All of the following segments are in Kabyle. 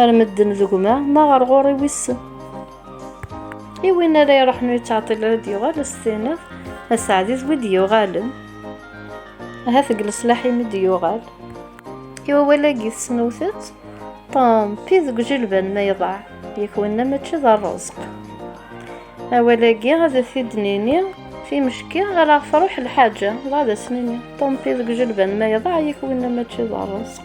Ar medden d gma, ma ɣer ɣur-i wissen. I win ara iruḥen ur yettɛeṭṭil ara d-yuɣal ad s-tiniḍ aseɛdi d wid yuɣalen. Ahat deg leslaḥ-im i d-yuɣal. I wawal-agi tesnewt-tt, ṭampi deg ujilban ma iḍaɛ, yak winna mačči d rrezq. Awal-agi ad t-id-nini timecki ara ɣ-truḥ lḥaǧa, dɣa ad as-nini, ṭampi deg ujilban ma iḍaɛ, yak winna mačči d rrezq.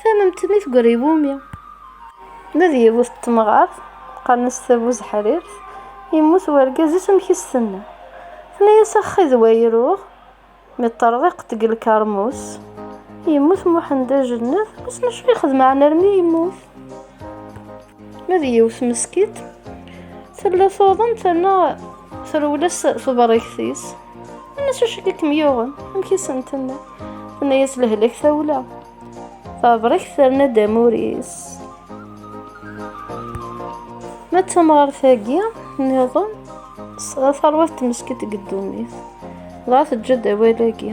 Tamemtmi tegger i wumi? Nadi d yiwet n temɣart, qqaren-as Tabuzeḥrirt, yemmut wergaz-is amek i s-tenna. Tenna-as ax d way ruɣ, mi ṭṭerḍiqet deg lkermus, yemmut Muḥend Ajennet, wissen acu yexdem ɛni armi yemmut? Ma d yiwet meskit tella tuḍen terna trewles tebrigt-is nnas acu i kem-yuɣen amek i sen-tenna tenna-yas lehlak tawla tabrigt terna-d amur-is ma d tamɣart-agi niḍen tesɛa tarwiḥt tmeskit deg ddunit dɣa teǧǧa-d awal-agi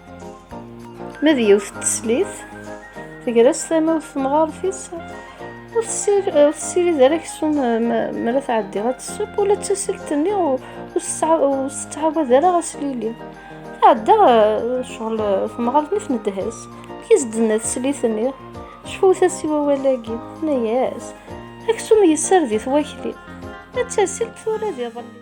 Ma d yiwet n teslit, tegra s tamawt temɣart-is, ur tessirid ara aksum mi ara tɛeddi ad tesseww, ula d tasilt-nni ur tettɛawad ara aslili. Tɛedda ccɣel temɣart-nni tnedha-s, amek i s-d-tenna teslit-nni? Cfut-as i wawal-agi, tenna-as, aksum yessared-it wakli, ma d tasilt tura d iḍelli.